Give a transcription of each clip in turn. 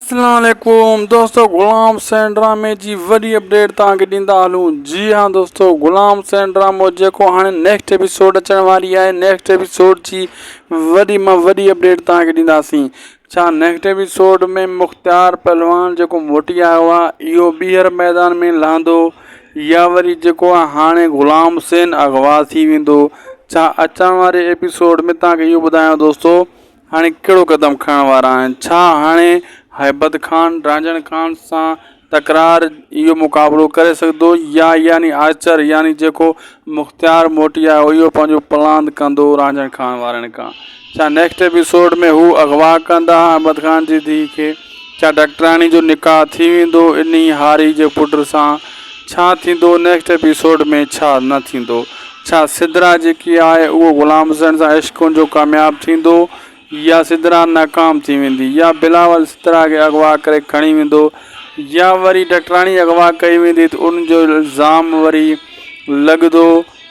اسلام عليڪم دوستو غلام حسين ڊرامي جي وڏي اپڊيٽ توهان کي ڏيندا هلون جي ها دوستو غلام حسين ڊرامو جيڪو هاڻي نيڪسٽ ايپيسوڊ اچڻ واري آهي نيڪسٽ ايپيسوڊ جي وڏي مان وڏي اپڊيٽ توهان کي ڏينداسين ڇا نيڪسٽ ايپيسوڊ ۾ مختيار پهلوان جيڪو موٽي آيو آهي اهو ٻيهر ميدان ۾ لهندو يا وري جيڪو آهي هاڻي غلام حسين اغوا ٿي ويندو ڇا اچڻ واري ايپيسوڊ ۾ توهان کي اهو ٻڌايان دوستو هاڻي ڪهڙو قدم کڻڻ وارا آهن؟ ڇا هاڻي هيبت خان رانجهڻ خان سان تڪرار اهو مقابلو ڪري سگهندو يا يعني آچر يعني جيڪو مختيار موٽي آيو اهو پنهنجو پلاند ڪندو رانجهڻ خان وارن کان؟ ڇا نيڪسٽ ايپيسوڊ ۾ هو اغوا ڪندا هيبت خان جي ڌيء کي؟ ڇا ڊاڪٽراڻي جو نڪاح ٿي ويندو انهي هاري جي پٽ سان ڇا ٿيندو نيڪسٽ ايپيسوڊ ۾ ڇا نه ٿيندو ڇا سدرا جيڪي آهي اهو غلام حسين سان عشق جو ڪامياب ٿيندو يا سدرا ناڪام ٿي ويندي يا بلاول سدرا کي اغوا ڪري کڻي ويندو يا وري ڊاڪٽراڻي اغوا ڪئي ويندي ته ان جو الزام وري لڳدو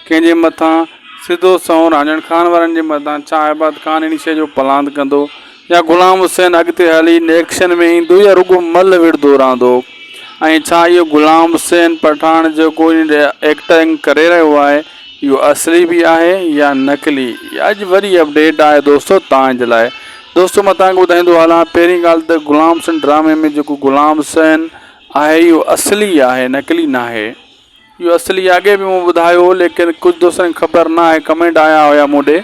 ڪنهن جي مٿان سڌو سنئون رانجڻ خان وارن جي مٿان ڇا احباد خان اهڙي شئي جو پلاند ڪندو يا غلام حسين اڳتي هلي نيڪشن ۾ ايندو يا رڳو مل وڙهندو رهندو ۽ ڇا اهو غلام حسين پٺاڻ جيڪو هن ايڪٽنگ ڪري رهيو آهي اهو اصلي به آهي يا نقلي اڄ وري اپڊيٽ آهي دوستو تان جي لاء دوستو مان تان کي ٻڌائيندو هلان پهرين ڳالهه ته غلام حسين ڊرامي ۾ جيڪو غلام حسين آهي اهو اصلي آهي نقلي ناهي اهو اصلي اڳي به مون ٻڌايو هو ليڪن ڪجهه دوستن کي خبر نه آهي ڪمينٽ آيا هيا مون ڏي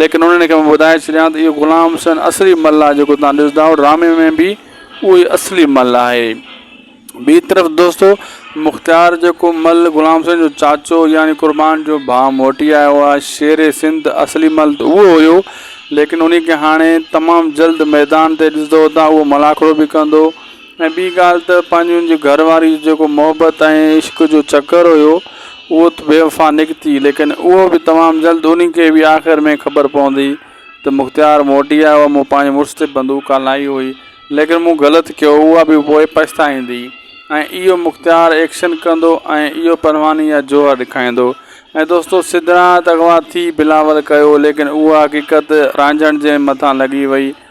ليڪن انهن کي مان ٻڌائي ڇڏيان ته اهو غلام حسين اصلي مل آهي جيڪو توهان ڏسندا آهيو ڊرامي ۾ به اهو ئي اصلي مل آهي ٻي طرف دوستو مختيار جيڪو مل غلام حسين جو چاچو يعني قربان جو ڀاء موٽي آيو آهي شير سنڌ اصلي مل ته اهو هيو ليڪن انهي کي هاڻي تمام جلد ميدان تي ڏسندو اتان اهو ملاکڙو به ڪندو ۽ ٻي ڳالهه ته پنهنجي ان جي گهر واري جو جيڪو محبت ۽ عشق جو چڪر هيو اهو ته بي وفا نڪتي ليڪن اهو به تمام جلد انهي کي به آخر ۾ خبر پوندي ته مختيار موٽي آيو آهي مون پنهنجي مڙس تي بندوق هلائي هئي ليڪن مون غلط ڪيو اها به پوء پڇتائيندي ۽ اهو مختيار ايڪشن ڪندو ۽ اهو پرواني يا جوهر ڏيکائيندو ۽ دوستو سدرا ته اغوا ٿي بلاول ڪيو ليڪن اها حقيقت رانجهڻ جي مٿان لڳي وئي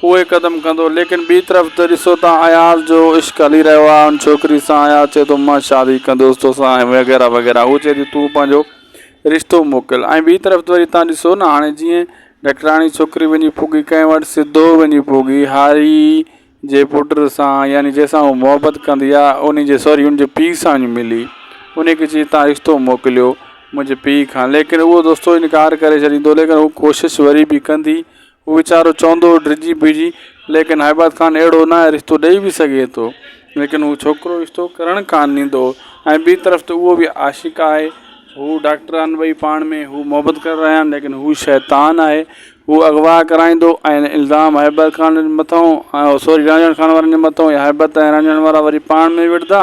اهي قدم ڪندو ليڪن ٻي طرف ته ڏسو ته اياز جو عشق هلي رهيو آهي ان ڇوڪري سان اياز چئي ٿو مان شادي ڪندوس توسان ۽ وغيره وغيره هو چئي ٿي تون پنهنجو رشتو موڪل ۽ ٻي طرف ته وري تان ڏسو نه هاڻي جيئن ڊاڪٽراڻي ڇوڪري وڃي پوڳي ڪنهن وٽ سڌو وڃي پوڳي هاري جي پٽ سان يعني جنهن سان هو محبت ڪندي آهي انهي جي سوري ان جي پيء سان وڃي ملي انهي کي چئي تان رشتو موڪليو منهنجي پيء کان ليڪن اهو دوستو انڪار ڪري ڇڏيندو ليڪن هو ڪوشش وري به ڪندي هو ويچارو چوندو هو ڊڄي بيهجي ليڪن هائباد خان اهڙو ناهي رشتو ڏئي به سگهي ٿو ليڪن هو ڇوڪرو رشتو ڪرڻ ڪانه ڏيندو هو ۽ ٻي طرف ته اهو به عاشق آهي هو ڊاڪٽر آهن ٻئي پاڻ ۾ هو محبت ڪري رهيا آهن ليڪن هو شيطان آهي هو اغوا ڪرائيندو ۽ الزام هائباد خان مٿئون سوري رانجهڻ خان وارن جي مٿئون يا هائباد ۽ رانجهڻ وارا وري پاڻ ۾ وڙهندا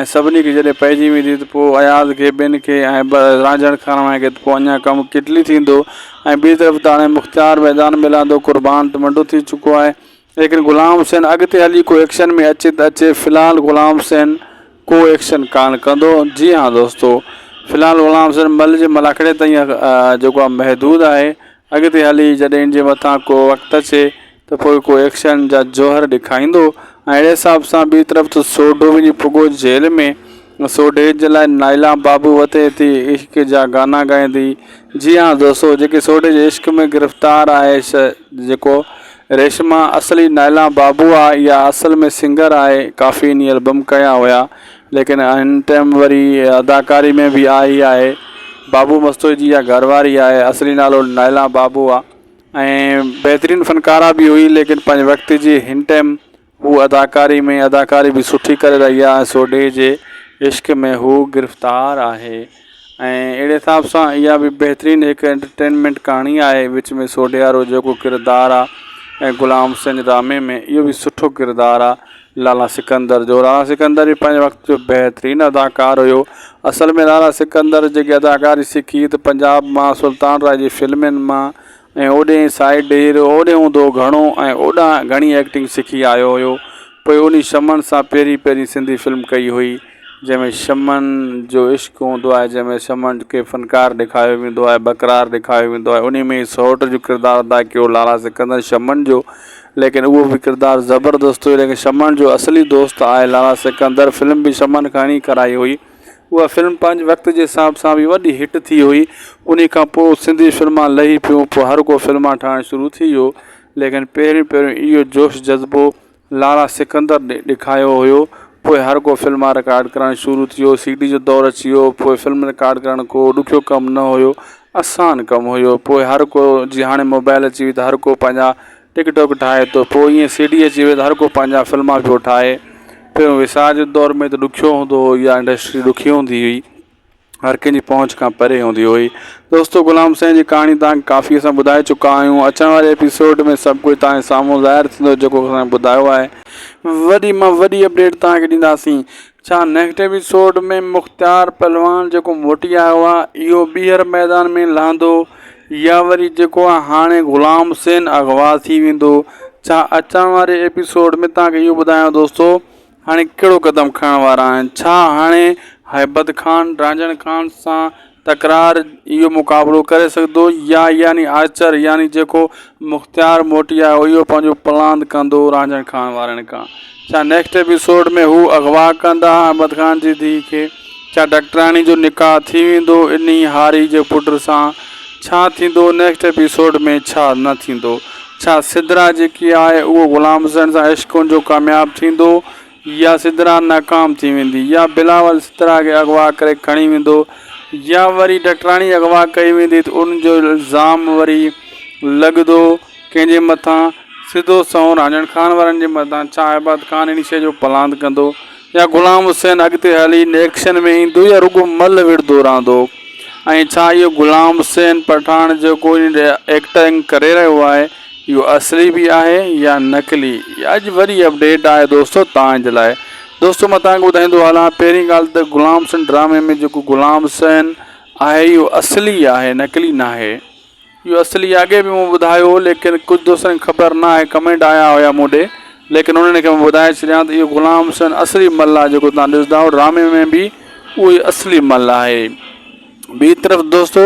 ۽ سڀني کي جڏهن پئجي ويندي ته پوء اياز کي، ٻين کي ۽ رانجهڻ خانواهه کي ته پوء اڃا ڪم ڪٽلي ٿيندو ۽ ٻي طرف ته هاڻي مختيار ميدان ۾ لهندو، قربان ته منڊو ٿي چڪو آهي، ليڪن غلام حسين اڳتي هلي ڪو ايڪشن ۾ اچي ته اچي، في الحال غلام حسين ڪو ايڪشن ڪانه ڪندو. جي ها دوستو! في الحال غلام حسين مل جي ملاکڙي تائين جيڪو آهي محدود آهي اڳتي هلي جڏهن ان جي مٿان ڪو وقت اچي ته پوء ڪو ايڪشن جا جوهر ڏيکائيندو ۽ اهڙي حساب سان ٻي طرف ته سوڍو وڃي پڳو جيل ۾ ۽ سوڍي جي لاء نائلا بابو وتي ٿي عشق جا گانا ڳائيندي جي ها دوستو جيڪي سوڍي جي عشق ۾ گرفتار آهي سا جيڪو ريشما اصلي نائلا بابو آهي اها اصل ۾ سنگر آهي ڪافي انهي البم ڪيا هيا ليڪن هن ٽيم وري اداڪاري ۾ به آئي ئي آهي. بابو مستوئي جي اها گهر واري آهي. اصلي نالو نائلا بابو آ ۽ بهترين فنڪاره به هئي ليڪن پنهنجي وقت جي هن ٽيم هو اداڪاري ۾ اداڪاري به سٺي ڪري رهي آ ۽ سوڍي جي عشق ۾ هو گرفتار آهي. ۽ اهڙي حساب سان اها به بهترين هڪ انٽرٽينمينٽ ڪهاڻي آهي وچ ۾ سوڍيارو جيڪو ڪردار آ ۽ غلام حسين ڊرامي ۾ اهو به سٺو ڪردار آ لالا سڪندر جو لالا سڪندر به پنهنجي وقت جو بهترين اداڪار هيو اصل ۾ لالا سڪندر جيڪي اداڪاري سکي ته پنجاب مان سلطان راء جي فلمين مان ۽ اوڏي سائيڊ ڏير اوڏي اوندو گهڻو ۽ اوڏانهن گهڻي ايڪٽنگ سکي آيو هيو پوء انهي شمن سان پهرين پهرين سنڌي فلم ڪئي هئي جنهن ۾ شمن جو عشق هوندو آهي جنهن ۾ شمن کي فنڪار ڏيکاريو ويندو آهي بڪرار ڏيکاريو ويندو آهي انهي ۾ سئوٽ جو ڪردار ادا ڪيو لالا سڪندر شمن جو ليڪن اهو به ڪردار زبردست هيو ليڪن شمن جو اصلي دوست آهي لالا سڪندر فلم به شمن کان ئي ڪرائي هئي. اها فلم پنهنجي وقت جي حساب سان به وڏي هٽ ٿي هئي. انهي کان پوء سنڌي فلمان لهي پيون پوء هر ڪو فلمان ٺاهڻ شروع ٿي ويو. ليڪن پهريون پهريون اهو جوش جذبو لارا سڪندر ڏيکايو هيو. پوء هر ڪو فلمان رڪارڊ ڪرڻ شروع ٿيو. سي ڊي جو دور اچي ويو. پوء فلم رڪارڊ ڪرڻ ڪو ڏکيو ڪم نه هيو. اسان ڪم هيو. پوء هر ڪو جيئن هاڻي موبائل اچي وئي ته هر ڪو پنهنجا ٽڪ ٽوڪ ٺاهي ٿو پوء ائين سي ڊي اچي وئي ته هر ڪو پنهنجا فلما پيو ٺاهي پهريون ويسار جي دور ۾ ته ڏکيو هوندو هو يا انڊسٽري ڏکي هوندي هئي هر ڪنهن جي پهچ کان پري هوندي هئي دوستو غلام سائين جي ڪهاڻي توهان کي ڪافي اسان ٻڌائي چڪا آهيون اچڻ واري ايپيسوڊ ۾ سڀ ڪجهه توهان جي سامهون ظاهر ٿيندو جيڪو اسان کي ٻڌايو آهي وڏي مان وڏي اپڊيٽ توهان کي ڏينداسين ڇا نيڪسٽ ايپيسوڊ ۾ مختيار پهلوان جيڪو موٽي آيو آ اهو ٻيهر ميدان ۾ لهندو يا وري جيڪو آ هاڻي غلام حسين اغوا ٿي ويندو ڇا اچڻ واري ايپيسوڊ ۾ تهان کي اهو ٻڌايان دوستو هاڻي ڪهڙو قدم کڻڻ وارا آهن ڇا هاڻي هيبت خان رانجهڻ خان سان تڪرار اهو مقابلو ڪري سگهندو يا يعني آچر يعني جيڪو مختيار موٽي آيو اهو پنهنجو پلاند ڪندو رانجهڻ خان وارن کان ڇا نيڪسٽ ايپيسوڊ ۾ هو اغوا ڪندا احمد خان جي ڌيء کي ڇا ڊاڪٽرياڻي جو نڪاح ٿي ويندو انهي هاري جي پٽ سان ڇا ٿيندو نيڪسٽ ايپيسوڊ ۾ ڇا نه ٿيندو ڇا سدرا جيڪي آهي اهو غلام حسين سان عشق ان جو ڪامياب ٿيندو يا سدرا ناڪام ٿي ويندي يا بلاول سدرا کي اغوا ڪري کڻي ويندو يا وري ڊاڪٽراڻي اغوا ڪئي ويندي ته ان جو الزام وري لڳندو ڪنهن جي مٿان سڌو سنئون رانجڻ خان وارن جي مٿان ڇا عباد خان ان شيء جو پلاند ڪندو يا غلام حسين اڳتي هلي ان ايڪشن ۾ ايندو يا رڳو ملهه وڙهندو رهندو ۽ ڇا اهو غلام حسين پٺاڻ جيڪو ان ايڪٽنگ ڪري رهيو آهي اهو اصلي به آهي يا نقلي اڄ وري اپڊيٽ آهي دوستو تان جي لاء دوستو مان تان کي ٻڌائيندو هلان پهرين ڳالهه ته غلام حسين ڊرامي ۾ جيڪو غلام حسين آهي اهو اصلي آهي نقلي نه آهي اهو اصلي اڳي به مون ٻڌايو ليڪن ڪجهه دوستن کي خبر نه آهي ڪمينٽ آيا هيا مون ڏي ليڪن انهن کي ٻڌائي ڇڏيان ته اهو غلام حسين اصلي مل آهي جيڪو تان ڏسندا ڊرامي ۾ به اهو اصلي مل آهي ٻي طرف دوستو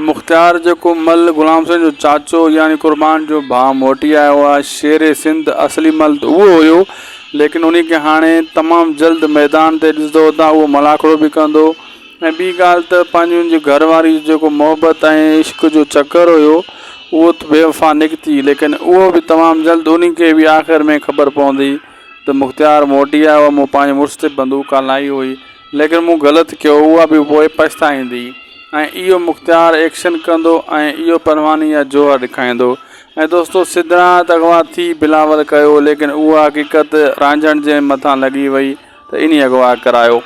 مختيار جيڪو مل غلام حسين جو چاچو يعني قربان جو ڀاء موٽي آيو آ شير سنڌ اصلي مل ته اهو هيو ليڪن انهي کي هاڻي تمام جلد ميدان تي ڏسدو اتان اهو ملاکڙو به ڪندو ۽ ٻي ڳالهه ته پنهنجي ان جي گهر واري جو جيڪو محبت ۽ عشق جو چڪر هيو اهو ته بي وفا نڪتي ليڪن اهو به تمام جلد انهي کي به آخر ۾ خبر پوندي ته مختيار موٽي آيو آ مون پنهنجي مڙس تي بندوق هلائي هئي ليڪن مون غلط ڪيو اها به پوء پڇتائيندي ۽ اهو مختيار ايڪشن ڪندو ۽ اهو پرواني يا جوهر ڏيکائيندو ۽ دوستو سڌرانت اغوا ٿي بلاول ڪيو ليڪن اها حقيقت رانجهڻ جي مٿان لڳي وئي ته انهي اغوا ڪرايو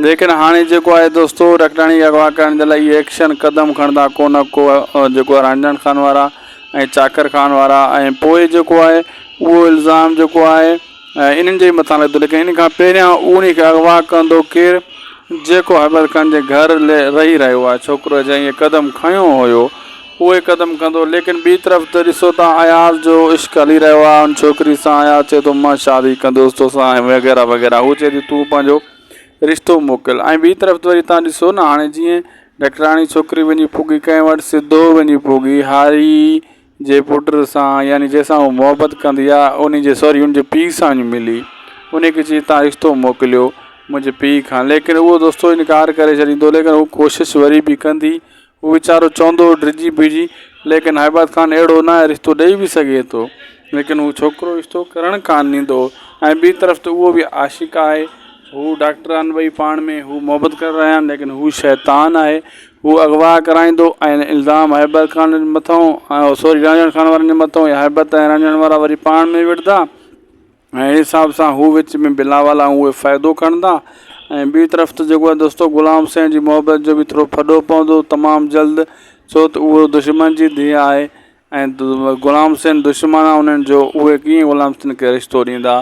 ليڪن هاڻي جيڪو آهي دوستو رکڙاڻي اغوا ڪرڻ جي لاء اهي ايڪشن قدم کڻندا ڪونه ڪو جيڪو آهي رانجهڻ خان وارا ۽ چاڪر خان وارا ۽ پوء جيڪو آهي اهو الزام جيڪو آهي ۽ انهن جي مٿان لڳندو، ليڪن ان کان پهريان اوهين کي اغوا ڪندو ڪير؟ جيڪو حبيل خان جي گهر رهي رهيو آهي. ڇوڪرو جنهن اهي قدم کنيو هيو، اهوئي قدم کنيو. ليڪن ٻي طرف ته ڏسو ته اياز جو عشق هلي رهيو آهي ان ڇوڪري سان. اياز چئي ٿو مان شادي ڪندس توسان ۽ وغيره وغيره. هوء چئي ٿي تون پنهنجو رشتو موڪل ۽ ٻي طرف ته وري توهان ڏسو نه هاڻي جيئن ڊاڪٽراڻي ڇوڪري وڃي پوڳي ڪنهن وٽ سڌو وڃي پوڳي هاري. جي پٽ سان يعني جنهن سان هوء محبت ڪندي آ انهي جي سوري ان جي پيء سان وڃي ملي انهي کي چئي تان رشتو موڪليو منهنجي پيء کان ليڪن اهو دوستو انڪار ڪري ڇڏيندو ليڪن هوء ڪوشش وري به ڪندي هوء ويچارو چوندو هو ڊڄي پڄي ليڪن هيبت خان اهڙو ناهي رشتو ڏئي به سگهي ٿو ليڪن هوء ڇوڪرو رشتو ڪرڻ ڪان ڏيندو ۽ ٻي طرف ته اهو به عاشق آهي هوء ڊاڪٽر آهن ٻئي پاڻ ۾ هوء محبت ڪري رهيا آهن ليڪن هوء شيطان آهي هو اغوا ڪرائيندو ۽ الزام هيبر خان جي مٿئون ۽ هوسوري رنجڻ خان وارن جي مٿئون يا هيبت ۽ رنجڻ وارا وري پاڻ ۾ وڙهندا ۽ اهڙي حساب سان هو وچ ۾ بلاول ۽ اهي فائدو کڻندا ۽ ٻي طرف ته جيڪو دوستو غلام حسين جي محبت جو به ٿورو ڦڏو پوندو تمام جلد ڇو ته اهو دشمن جي ڌيء آهي ۽ غلام سين دشمن انهن جو اهي ڪيئن غلام سين کي رشتو ڏيندا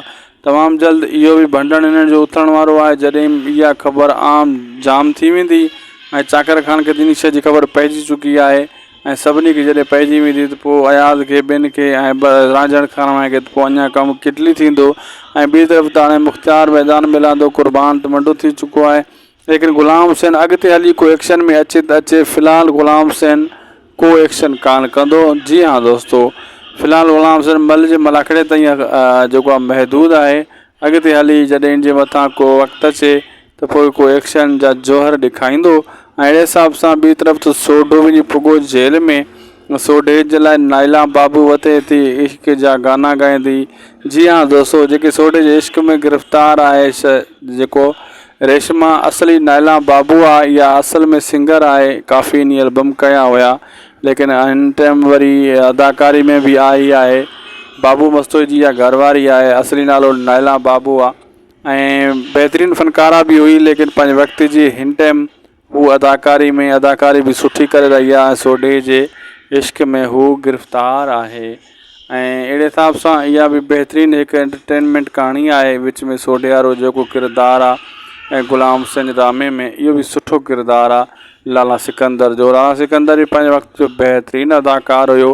تمام جلد اهو به ڀنڊڻ انهن جو اٿڻ وارو آهي جڏهن اها خبر عام جام ٿي ويندي ۽ چاڪر خان کي انهي شيء جي خبر پئجي چڪي آهي ۽ سڀني کي جڏهن پئجي ويندي ته پوء اياز کي ٻين کي ۽ رانجهڙ خان وانهي کي ته پوء اڃا ڪم ڪٽلي ٿيندو ۽ ٻي طرف ته هاڻي مختيار ميدان ميلاندو قربان ته منڊو ٿي چڪو آهي ليڪن غلام حسين اڳتي هلي ڪو ايڪشن ۾ اچي ته اچي في الحال غلام حسين ڪو ايڪشن ڪانه ڪندو جي ها دوستو في الحال غلام حسين مل جي ملاکڙي تائين جيڪو آهي محدود آهي اڳتي هلي جڏهن ان جي مٿان ڪو وقت اچي ته پوء ڪو ايڪشن جا جوهر ڏيکائيندو ۽ اهڙي حساب سان ٻي طرف ته سوڍو وڃي پڳو جيل ۾ سوڍي جي لاء نائلا بابو وتي ٿي عشق جا گانا ڳائيندي جي ها دوستو جيڪي سوڍي جي عشق ۾ گرفتار آهي جيڪو ريشما اصلي نائلان بابو آ اها اصل ۾ سنگر آهي ڪافي انهي البم ڪيا هيا ليڪن هن ٽيم وري اداڪاري ۾ به آئي آهي بابو مستوئي جي اها گهر واري آهي اصلي نالو نائلان بابو آ ۽ بهترين فنڪاره به هئي ليڪن پنهنجي وقت جي هن ٽيم هو اداڪاري ۾ اداڪاري به سٺي ڪري رهي آهي ۽ سوڍي جي عشق ۾ هو گرفتار آهي ۽ اهڙي حساب سان اها به بهترين هڪ انٽرٽينمينٽ ڪهاڻي آهي وچ ۾ سوڍي وارو جيڪو ڪردار آهي ۽ غلام حسين ڊرامي ۾ اهو به سٺو ڪردار آهي لالا سڪندر جو لالا سڪندر به پنهنجي وقت جو بهترين اداڪار هيو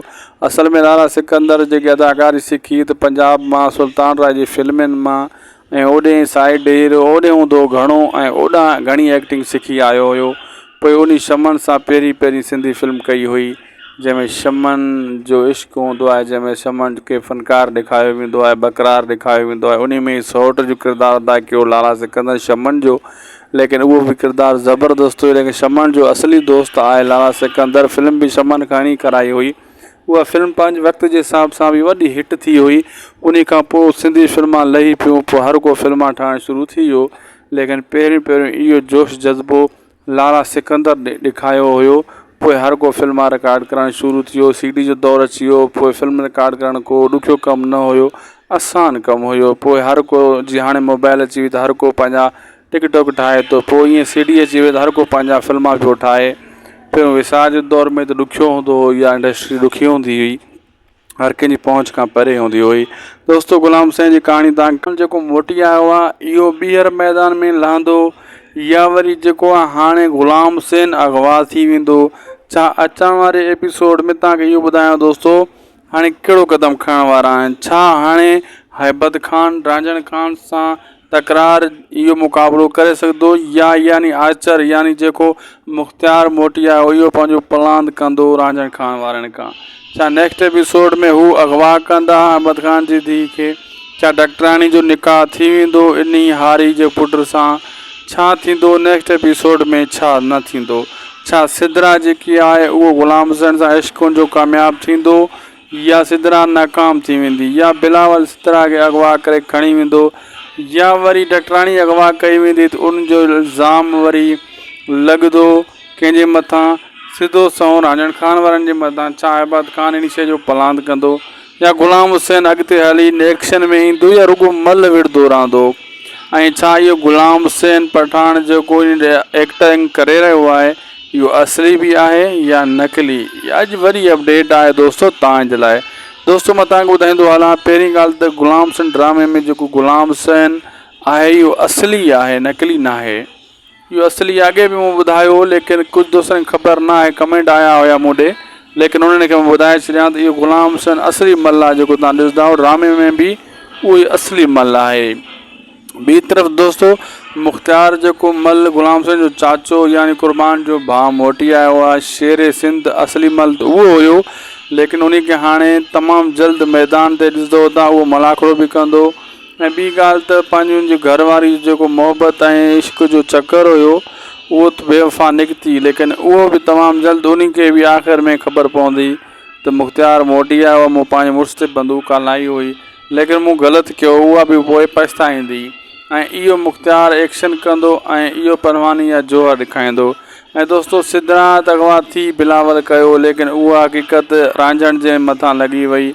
اصل ۾ لالا سڪندر جيڪي اداڪاري سکي ته پنجاب مان سلطان راء جي فلمن مان ۽ اوڏي سائيڊ ڊير اوڏي اوندو گهڻو ۽ اوڏانهن گهڻي ايڪٽنگ سکي آيو هيو پوء انهي شمن سان پهرين پهرين سنڌي فلم ڪئي هئي جنهن ۾ شمن جو عشق هوندو آهي جنهن ۾ شمن کي فنڪار ڏيکاريو ويندو آهي ٻڪرار ڏيکاريو ويندو آهي انهي ۾ سئوٽ جو ڪردار ادا ڪيو لالا سڪندر شمن جو ليڪن اهو به ڪردار زبردست هيو ليڪن شمن جو اصلي دوست آهي لالا سڪندر فلم به شمن کان ئي ڪرائي هئي اها فلم پنهنجي وقت جي حساب سان به وڏي هٽ ٿي هئي انهي کان پوء سنڌي فلمان لهي پيون پوء هر ڪو فلمان ٺاهڻ شروع ٿي ويو ليڪن پهريون پهريون اهو جوش جذبو لارا سڪندر ڏکايو هيو پوء هر ڪو فلمان رڪارڊ ڪرڻ شروع ٿيو سي ڊي جو دور اچي ويو پوء فلم رڪارڊ ڪرڻ ڪو ڏکيو ڪم نه هيو آسان ڪم هيو پوء هر ڪو جي هاڻي موبائل اچي وئي ته هر ڪو پنهنجا ٽڪ ٽاڪ ٺاهي ٿو پوء ائين سي ڊي اچي وئي ته هر ڪو پنهنجا فلما پيو ٺاهي پهريون وسار جي دور ۾ ته ڏکيو هوندو هو يا انڊسٽري ڏکي هوندي هئي هر ڪنهن جي پهچ کان پري هوندي هئي دوستو غلام سائين جي ڪهاڻي تان جيڪو موٽي آيو آهي اهو ٻيهر ميدان ۾ لهندو يا وري جيڪو آهي هاڻي غلام سين اغوا ٿي ويندو ڇا اچڻ واري ايپيسوڊ ۾ تهان کي اهو ٻڌايان دوستو هاڻي ڪهڙو قدم کڻڻ وارا آهن؟ ڇا هاڻي هيبت خان رانجهڻ خان سان تڪرار اهو مقابلو ڪري سگهندو يا يعني آرچر يعني جيڪو مختيار موٽي آيو اهو پنهنجو پلاند ڪندو رانجهڻ خان وارن کان؟ ڇا نيڪسٽ ايپيسوڊ ۾ هو اغوا ڪندا هيبت خان جي ڌيء کي؟ ڇا ڊاڪٽراڻي جو نڪاح ٿي ويندو انهي هاري جي پٽ سان ڇا ٿيندو نيڪسٽ ايپيسوڊ ۾ ڇا نه ٿيندو ڇا سدرا جيڪي آهي اهو غلام حسين سان عشق جو ڪامياب ٿيندو يا سدرا ناڪام ٿي ويندي يا بلاول سدرا کي اغوا ڪري کڻي ويندو يا وري ڊاڪٽراڻي اغوا ڪئي ويندي ته ان جو الزام وري لڳدو ڪنهن جي مٿان سڌو سنئون رانجڻ خان وارن جي مٿان ڇا احباد خان انهي شئي جو پلاند ڪندو يا غلام حسين اڳتي هلي نيڪشن ۾ ايندو يا رڳو مل وڙهندو رهندو ۽ ڇا اهو غلام حسين پٺاڻ جيڪو هن ايڪٽنگ ڪري رهيو آهي اهو اصلي به آهي يا نقلي اڄ وري اپڊيٽ آهي دوستو توهان جي لاء دوستو مان توهان کي ٻڌائيندو هلان پهرين ڳالهه ته غلام حسين ڊرامي ۾ جيڪو غلام حسين آهي اهو اصلي آهي نقلي ناهي اهو اصلي اڳي به مون ٻڌايو هو ليڪن ڪجهه دوستن کي خبر نه آهي ڪمينٽ آيا هيا مون ڏي ليڪن انهن کي مان ٻڌائي ڇڏيان ته اهو غلام حسين اصلي مل آهي جيڪو تان ڏسندا آهيو ڊرامي ۾ به اهو ئي اصلي مل آهي ٻي طرف دوستو مختيار جيڪو مل غلام حسين جو چاچو يعني قربان جو ڀاء موٽي آيو آهي شير سنڌ اصلي مل ته اهو هيو ليڪن انهي کي هاڻي تمام جلد ميدان تي ڏسندو تان اهو ملاکڙو به ڪندو ۽ ٻي ڳالهه ته پنهنجي ان جي گهر واري جو جيڪو محبت ۽ عشق جو چڪر هيو اهو ته بي وفا نڪتي ليڪن اهو به تمام جلد انهي کي به آخر ۾ خبر پوندي ته مختيار موٽي آيو آهي مون پنهنجي مڙس تي بندوق هلائي هئي ليڪن مون غلط ڪيو اها به پوء پڇتائيندي ۽ اهو مختيار ايڪشن ڪندو ۽ اهو پرواني يا جوهر ڏيکائيندو ۽ دوستو سدرا ته اغوا ٿي بلاول ڪيو ليڪن اها حقيقت رانجهڻ جي مٿان لڳي وئي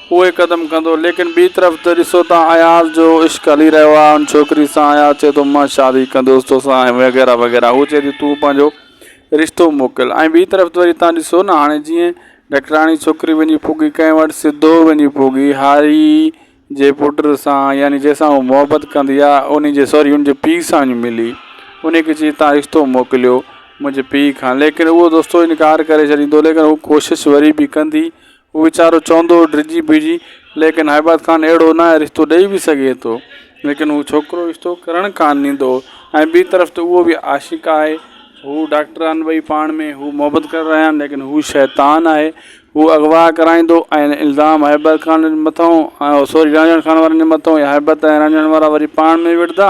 اهي قدم ڪندو ليڪن ٻي طرف ته ڏسو ته اياز جو عشق هلي رهيو آهي ان ڇوڪري سان اياز چئي ٿو مان شادي ڪندوس توسان ۽ وغيره وغيره هو چئي ٿي تون پنهنجو رشتو موڪل ۽ ٻي طرف ته وري تان ڏسو نه هاڻي جيئن ڊاڪٽراڻي ڇوڪري وڃي پوڳي ڪنهن وٽ سڌو وڃي پوڳي هاري جي پٽ سان يعني جنهن سان هو محبت ڪندي آهي انهي جي سوري ان جي پيء سان وڃي ملي انهي کي چئي تان رشتو موڪليو منهنجي پيء کان ليڪن اهو دوستو انڪار ڪري ڇڏيندو ليڪن هو ڪوشش وري به ڪندي هو ويچارو چوندو هو ڊڄي بيهجي ليڪن هائباد خان اهڙو ناهي رشتو ڏئي به سگهي ٿو ليڪن هو ڇوڪرو رشتو ڪرڻ ڪانه ڏيندو هو ۽ ٻي طرف ته اهو به عاشق آهي هو ڊاڪٽر آهن ٻئي پاڻ ۾ هو محبت ڪري رهيا آهن ليڪن هو شيطان آهي هو اغوا ڪرائيندو ۽ الزام هائباد خان مٿئون سوري رانجهڻ خان وارن جي مٿئون يا هائباد ۽ رانجهڻ وارا وري پاڻ ۾ وڙهندا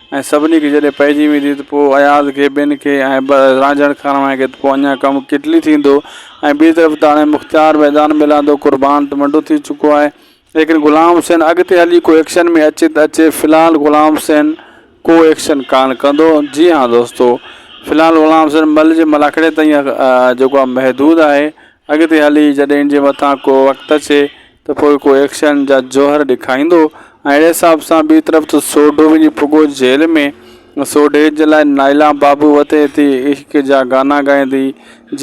۽ سڀني کي جڏهن پئجي ويندي ته پوء اياز کي، ٻين کي ۽ رانجهڻ کانئن کي ته پوء اڃا ڪم ڪٽلي ٿيندو ۽ ٻي طرف ته هاڻي مختيار ميدان ۾ لهندو، قربان ته منڊو ٿي چڪو آهي، ليڪن غلام حسين اڳتي هلي ڪو ايڪشن ۾ اچي ته اچي، في الحال غلام حسين ڪو ايڪشن ڪانه ڪندو. جي ها دوستو! في الحال غلام حسين مل جي ملاکڙي تائين جيڪو آهي محدود آهي، اڳتي هلي جڏهن ان جي مٿان ڪو وقت اچي ته پوء ڪو ايڪشن جا جوهر ڏيکاريندو ۽ اهڙي حساب سان ٻي طرف ته سوڍو وڃي پڳو جيل ۾، سوڍي جي لاء نائلا بابو وتي ٿي عشق جا گانا ڳائيندي،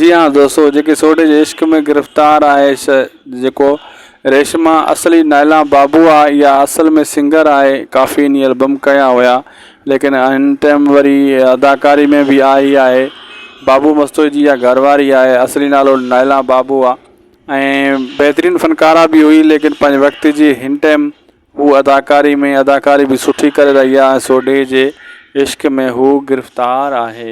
جي ها دوستو جيڪي سوڍي جي عشق ۾ گرفتار آهي سا جيڪو ريشما اصلي نائلا بابو آ اها اصل ۾ سنگر آهي ڪافي ني البم ڪيا هيا ليڪن هن ٽيم وري اداڪاري ۾ به آئي آهي بابو مستوئي جي اها گهر واري آهي اصلي نالو نائلا بابو آ. ۽ بهترين فنڪاره به هئي ليڪن پنهنجي وقت جي هن ٽيم هو اداڪاري ۾ اداڪاري به سٺي ڪري رهي آهي سوڍي جي عشق ۾ هو گرفتار آهي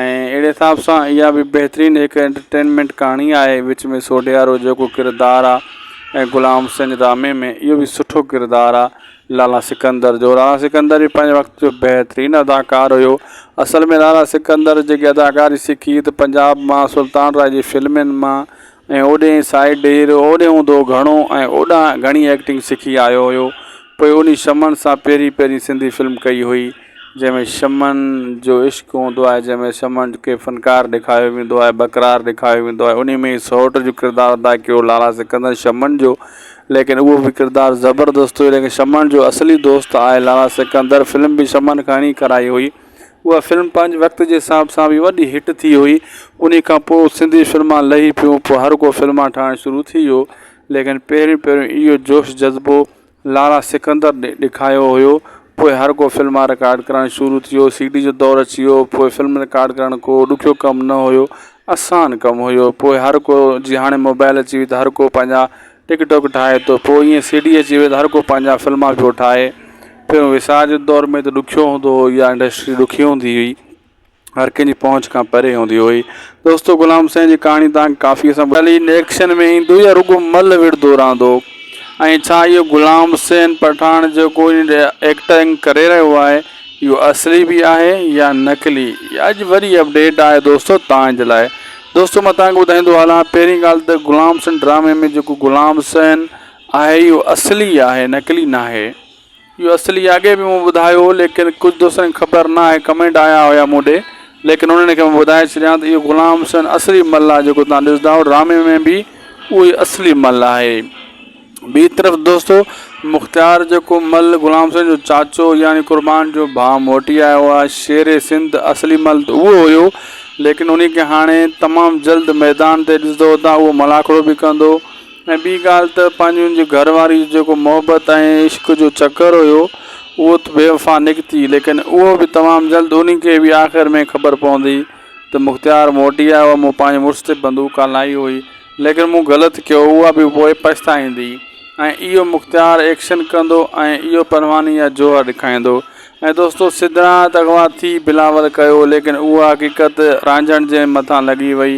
۽ اهڙي حساب سان اها به بهترين هڪ انٽرٽينمينٽ ڪهاڻي آهي وچ ۾ سوڍيارو جيڪو ڪردار آهي ۽ غلام حسين رامي ۾ اهو به سٺو ڪردار آهي لالا سڪندر جو لالا سڪندر به پنهنجي وقت جو بهترين اداڪار هيو اصل ۾ لالا سڪندر جيڪي اداڪاري سکي ته پنجاب مان سلطان راء جي فلمن مان ۽ اوڏي سائيڊ ڊير اوڏي هوندو گهڻو ۽ اوڏانهن گهڻي ايڪٽنگ سکي آيو هيو پوء انهي شمن سان پهرين پهرين سنڌي فلم ڪئي هئي جنهن ۾ شمعن جو عشق هوندو آهي جنهن ۾ شمع کي فنڪار ڏيکاريو ويندو آهي بقرار ڏيکاريو ويندو آهي انهي ۾ سئوٽ جو ڪردار ادا ڪيو لالا سڪندر شمعن جو ليڪن اهو به ڪردار زبردست هيو ليڪن شمعن جو اصلي دوست آهي لالا سڪندر فلم به شمعن کان ئي ڪرائي هئي اها فلم پنهنجي وقت جي حساب سان به وڏي هٽ ٿي هئي انهي کان پوء سنڌي فلمان لهي پيون پوء هر ڪو فلمان ٺاهڻ شروع ٿي ويو ليڪن پهريون پهريون اهو جوش جذبو لالا سڪندر ڏي ڏيکايو هيو پوء هر ڪو فلما رڪارڊ ڪرڻ شروع ٿيو سي ڊي جو دور اچي ويو پوء فلم رڪارڊ ڪرڻ ڪو ڏکيو ڪم نه هيو اسان ڪم هيو پوء هر ڪو جي هاڻي موبائل اچي وئي ته هر ڪو پنهنجا ٽڪ ٽوڪ ٺاهي ٿو پوء ائين سي ڊي اچي وئي ته هر ڪو پنهنجا فلما پيو ٺاهي پهريون وسار جي دور ۾ ته ڏکيو هوندو هو اها انڊسٽري ڏکي هوندي هئي هر ڪنهن جي پهچ کان پري هوندي هئي. دوستو غلام حسين جي ڪهاڻي توهان کي ڪافيء سان ٻڌائي. علي نيڪشن ۾ ايندو يا رڳو مل وڙهندو رهندو؟ ۽ ڇا اهو غلام حسين پٺاڻ جيڪو هن ايڪٽنگ ڪري رهيو آهي اهو اصلي به آهي يا نقلي؟ اها اڄ وڏي اپڊيٽ آهي دوستو توهان جي لاء. دوستو مان توهان کي ٻڌائيندو هلان پهرين ڳالهه ته غلام حسين ڊرامي ۾ جيڪو غلام حسين آهي اهو اصلي آهي نقلي ناهي. اهو اصلي اڳي به مون ٻڌايو هو ليڪن ڪجهه دوستن کي خبر نه آهي ڪمينٽ آيا هيا مون ڏي ليڪن انهن کي مان ٻڌائي ڇڏيان ته اهو غلام حسين اصلي مل آهي جيڪو توهان ڏسندا آهيو ڊرامي ۾ به اهو ئي اصلي مل آهي ٻي طرف دوستو مختيار جيڪو مل غلام حسين جو چاچو يعني قربان جو ڀاء موٽي آيو آهي شير سنڌ اصلي مل ته اهو هيو ليڪن انهي کي هاڻي تمام جلد ميدان تي ڏسندو تان اهو ملاکڙو به ڪندو ۽ ٻي ڳالهه ته پنهنجي ان جي گهر واري جو جيڪو محبت ۽ عشق جو چڪر هيو اهو ته بي وفا نڪتي ليڪن اهو به تمام جلد انهي کي به آخر ۾ خبر پوندي ته مختيار موٽي آيو آهي مون پنهنجي مڙس تي بندوق هلائي هئي ليڪن مون غلط ڪيو اها به پوء پڇتائيندي ۽ اهو مختيار ايڪشن ڪندو ۽ اهو پرواني يا جوهر ڏکائيندو ۽ دوستو سدرا ته اغوا ٿي بلاول ڪيو ليڪن اها حقيقت رانجهڻ جي مٿان لڳي وئي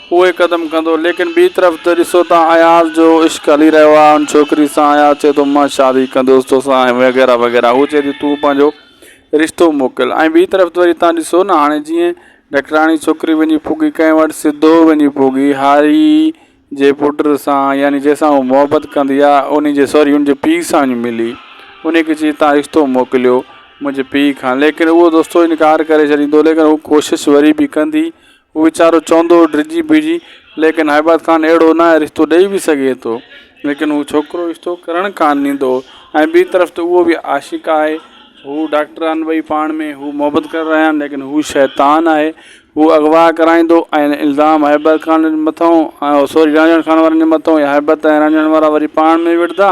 اهي قدم ڪندو ليڪن ٻي طرف ته ڏسو ته اياز جو عشق هلي رهيو آهي ان ڇوڪري سان اياز چئي ٿو مان شادي ڪندوس توسان ۽ وغيره وغيره هو چئي ٿي تون پنهنجو رشتو موڪل ۽ ٻي طرف ته وري تان ڏسو نه هاڻي جيئن ڊاڪٽراڻي ڇوڪري وڃي پوڳي ڪنهن وٽ سڌو وڃي پوڳي هاري جي پٽ سان يعني جنهن سان هو محبت ڪندي آهي انهي جي سوري ان جي پيء سان وڃي ملي انهي کي چئي تان رشتو موڪليو منهنجي پيء کان ليڪن اهو دوستو انڪار ڪري ڇڏيندو ليڪن هو ڪوشش وري به ڪندي هو ويچارو چوندو هو ڊڄي بيهجي ليڪن هائباد خان اهڙو نه رشتو ڏئي به سگهي ٿو ليڪن هو ڇوڪرو رشتو ڪرڻ ڪانه ڏيندو هو ۽ ٻي طرف ته اهو به عاشق آهي هو ڊاڪٽر آهن ٻئي پاڻ ۾ هو محبت ڪري رهيا آهن ليڪن هو شيطان آهي هو اغوا ڪرائيندو ۽ الزام هائباد خان مٿئون سوري رانجهڻ خان وارن جي مٿئون يا هائباد ۽ رانجهڻ وارا وري پاڻ ۾ وڙهندا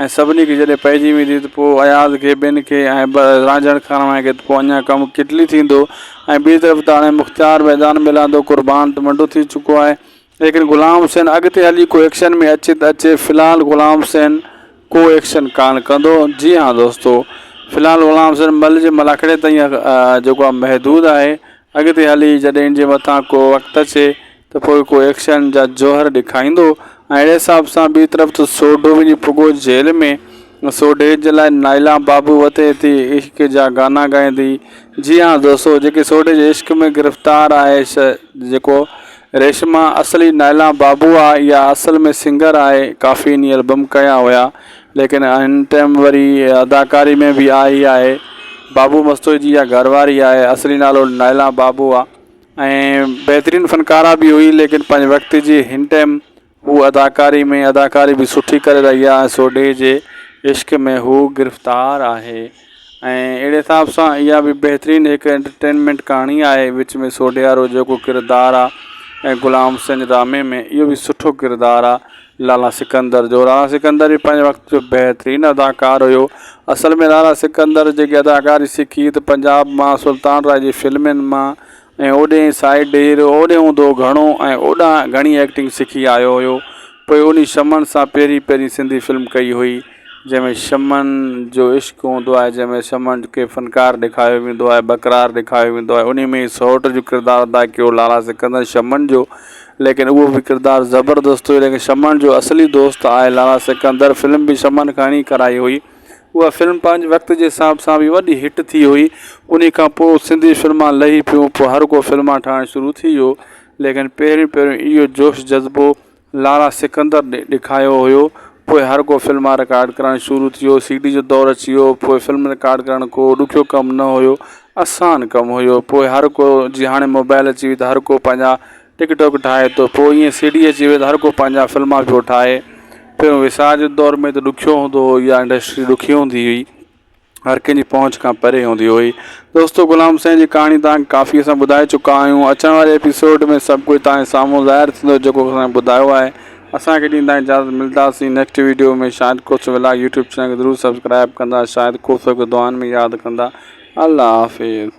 ۽ سڀني کي جڏهن پئجي ويندي ته پوء اياز کي ٻين کي ۽ به رانجهڻ کاراڻ کي ته پوء اڃا ڪم ڪٽلي ٿيندو ۽ ٻي طرف ته هاڻي مختيار ميدان ۾ لهندو قربان ته منڊو ٿي چڪو آهي ليڪن غلام حسين اڳتي هلي ڪو ايڪشن ۾ اچي ته اچي في الحال غلام حسين ڪو ايڪشن ڪانه ڪندو جي ها دوستو في الحال غلام حسين مل جي ملاکڙي تائين جيڪو آهي محدود آهي اڳتي هلي جڏهن ان جي مٿان ڪو وقت اچي ته پوء ڪو ايڪشن جا جوهر ڏيکاريندو ۽ اهڙي حساب سان ٻي طرف ته سوڍو وڃي پڳو جيل ۾، سوڍي جي لاء نائلا بابو وتي ٿي عشق جا گانا ڳائيندي، جي ها دوستو جيڪي سوڍي جي عشق ۾ گرفتار آهي سا جيڪو ريشما اصلي نائلا بابو آ اها اصل ۾ سنگر آهي ڪافي ني البم ڪيا هيا ليڪن هن ٽيم وري اداڪاري ۾ به آئي آهي بابو مستوئي جي اها گهر واري آهي اصلي نالو نائلا بابو آ. ۽ بهترين فنڪاره به هئي ليڪن پنهنجي وقت جي هن ٽئم هو اداڪاري ۾ اداڪاري به سٺي ڪري رهي آهي سوڍي جي عشق ۾ هو گرفتار آهي ۽ اهڙي حساب سان اها به بهترين هڪ انٽرٽينمينٽ ڪهاڻي آهي وچ ۾ سوڍيارو جيڪو ڪردار آهي ۽ غلام سنج ڊرامي ۾ اهو به سٺو ڪردار آهي لالا سڪندر جو لالا سڪندر به پنهنجي وقت جو بهترين اداڪار هيو اصل ۾ لالا سڪندر جيڪي اداڪاري سکي ته پنجاب مان سلطان راء جي فلمن مان ۽ اوڏي سائيڊ هيرو اوڏي هوندو گهڻو ۽ اوڏا گهڻي ايڪٽنگ سکي آيو هيو پوء انهي شمن سان پهرين پهرين سنڌي فلم ڪئي هئي جنهن ۾ شمن جو عشق هوندو آهي جنهن ۾ شمن کي فنڪار ڏيکاريو ويندو آهي بڪرار ڏيکاريو ويندو آهي انهي ۾ سئوٽ جو ڪردار ادا ڪيو لالا سڪندر شمن جو ليڪن اهو به ڪردار زبردست هيو ليڪن شمن جو اصلي دوست آء لالا سڪندر فلم به شمن کان ئي ڪرائي هئي اها فلم پنهنجي وقت جي حساب سان به وڏي هٽ ٿي هئي انهي کان پوء سنڌي فلمان لهي پيون پوء هر ڪو فلمان ٺاهڻ شروع ٿي ويو ليڪن پهريون پهريون اهو جوش جذبو لالا سڪندر ڏکايو هيو پوء هر ڪو فلمان رڪارڊ ڪرڻ شروع ٿيو سي ڊي جو دور اچي ويو پوء فلم رڪارڊ ڪرڻ ڪو ڏکيو ڪم نه هيو آسان ڪم هيو پوء هر ڪو جي هاڻي موبائل اچي وئي ته هر ڪو پنهنجا ٽڪ ٽاڪ ٺاهي ٿو پوء ائين سي ڊي اچي وئي ته هر ڪو پنهنجا فلما پيو ٺاهي پهريون ويسار جي دور ۾ ته ڏکيو هوندو هو يا انڊسٽري ڏکي هوندي هئي هر ڪنهن جي پهچ کان پري هوندي هئي دوستو غلام سائين جي ڪهاڻي تهان کي ڪافي اسان ٻڌائي چڪا آهيون اچڻ واري ايپيسوڊ ۾ سڀ ڪجهه تهان جي سامهون ظاهر ٿيندو جيڪو اسان کي ٻڌايو آهي اسان کي ڏيندا اجازت ملداسين next video ۾ Shahid Khoso vlog YouTube channel کي ضرور سبسڪرائب ڪندا شاهد کوسو کي دعائن ۾ ياد ڪندا الله حافظ